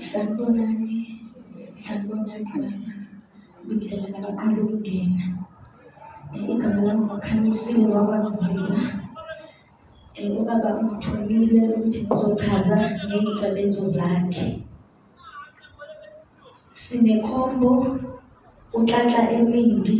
Sanibonani, sanibonani baba. Ngibingelela nabaqala ukungena. Eh, Igama lami nguKhanyisile wakwaMzila. Eh, Ubaba ungithumile ukuthi ngizochaza ngey'nsebenzo zakhe. Sinekhombo, unhlanhla eningi,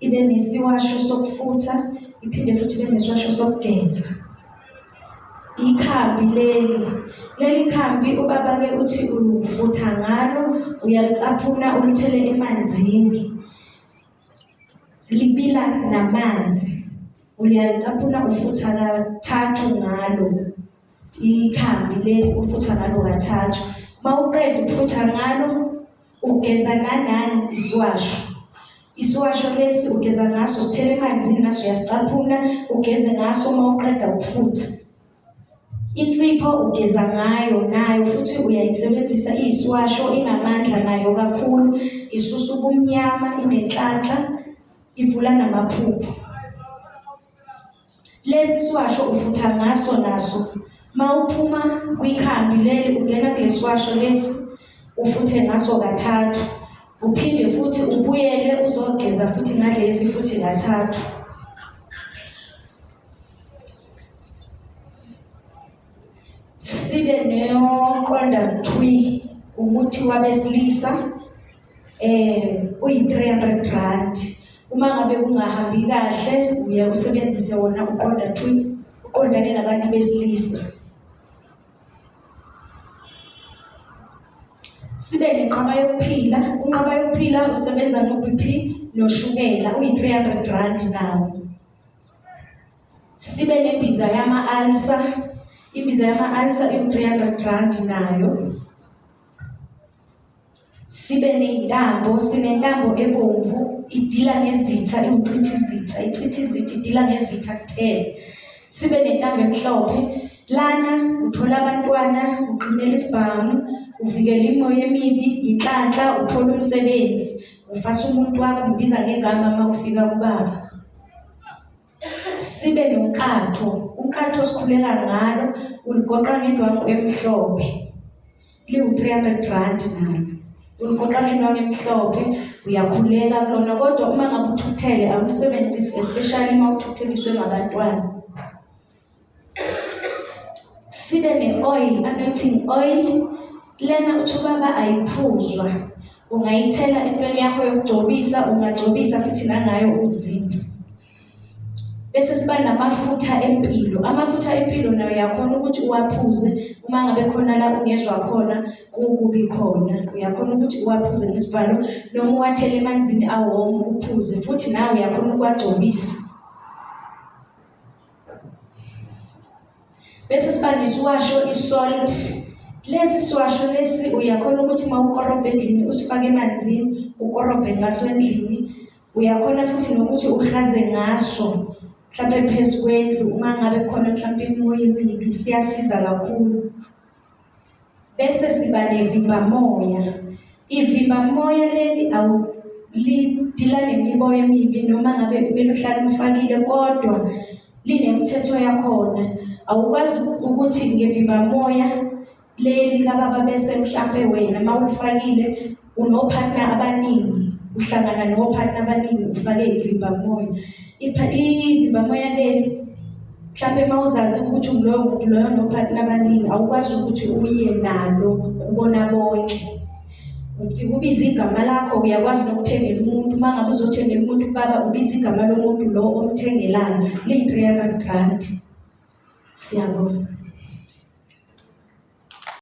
ibe nesiwasho sokufutha iphinde futhi ibe nesiwasho sokugeza ikhambi leli leli khambi ubaba-ke uthi ufutha ngalo uyalicaphuna ulithele emanzini libila namanzi uyalicaphuna ufutha kathathu ngalo ikhambi leli ufutha ngalo kathathu uma uqeda ukufutha ngalo Ugeza nanani isiwasho. Isiwasho lesi ugeza ngaso sithele emanzini naso uyasicaphuna ugeze ngaso uma uqeda ukufutha. Insipho ugeza ngayo nayo futhi uyayisebenzisa iyisiwasho inamandla nayo kakhulu isusa ubumnyama inenhlanhla ivula namaphupho. Lesi siwasho ufutha ngaso naso mawuphuma kwikhambi leli ungena kulesiwasho lesi ufuthe ngaso kathathu uphinde futhi ubuyele uzogeza futhi ngalesi futhi kathathu sibe neyoqonda thwi umuthi wabesilisa eh uyi-300 rand uma ngabe kungahambi kahle uye usebenzise wona uqonda thwi uqondane nabantu besilisa sibe nenqaba yokuphila unqaba yokuphila usebenza no-bp noshukela uyi-300 rand nawo Sibe nembiza yama-alisa. Imbiza yama-alisa iwu-300 rand nayo. Sibe nentambo, sinentambo ebomvu idila ngezitha iwuchitha izitha, ichitha izitha idila ngezitha kuphela. Sibe nentambo emhlophe lana uthola abantwana, uqinela isibhamu, uvikela imoya emibi, inhlanhla, uthola umsebenzi, ufasa umuntu wakho, mbiza ngegama uma ufika kubaba. sibe nonkatho unkatho sikhulela ngalo uligoqa ngendwangu emhlophe liwu-300 rand nalo uligoqa ngendwangu emhlophe uyakhuleka kulona kodwa uma ngabe uthuthele awulisebenzisi especially uma uthutheliswe ngabantwana sibe ne-oil anointing oil lena uthi ubaba ayiphuzwa ungayithela entweni yakho yokugcobisa ungagcobisa futhi nangayo uzimbi bese siba namafutha empilo amafutha empilo nayo yakhona ukuthi uwaphuze uma ngabe khona la ungezwa khona kukubi khona uyakhona ukuthi uwaphuze ngesivalo noma uwathele emanzini awomo uphuze futhi nawe uyakhona ukuwagcobisa Bese sibani siwasho isalt. Lesi siwasho lesi uyakhona ukuthi mawukorobhe endlini usifake emanzini ukorobhe ngaso endlini. Uyakhona futhi nokuthi uhlaze ngaso mhlampe phezu kwendlu uma ngabe khona mhlampe imoya emibi siyasiza kakhulu. bese siba nevimbamoya. Ivimbamoya leli awulidila nemiboya emibi noma ngabe kumele uhlale umfakile kodwa linemithetho yakhona. Awukwazi ukuthi ngevimbamoya leli kababa bese mhlampe wena mawulifakile Unophatna abaningi uhlangana nophatna abaningi ufake ivimbamoya. Ivimbamoya leli mhlawumbe uma uzazi ukuthi nguloyo muntu loyo nophatna abaningi awukwazi ukuthi uye nalo kubona bonke. Ubiza igama lakho uyakwazi nokuthengela umuntu uma ngabe uzothengela umuntu ubaba ubiza igama lomuntu lo omthengelayo liyi-300 rand. Siyabonga.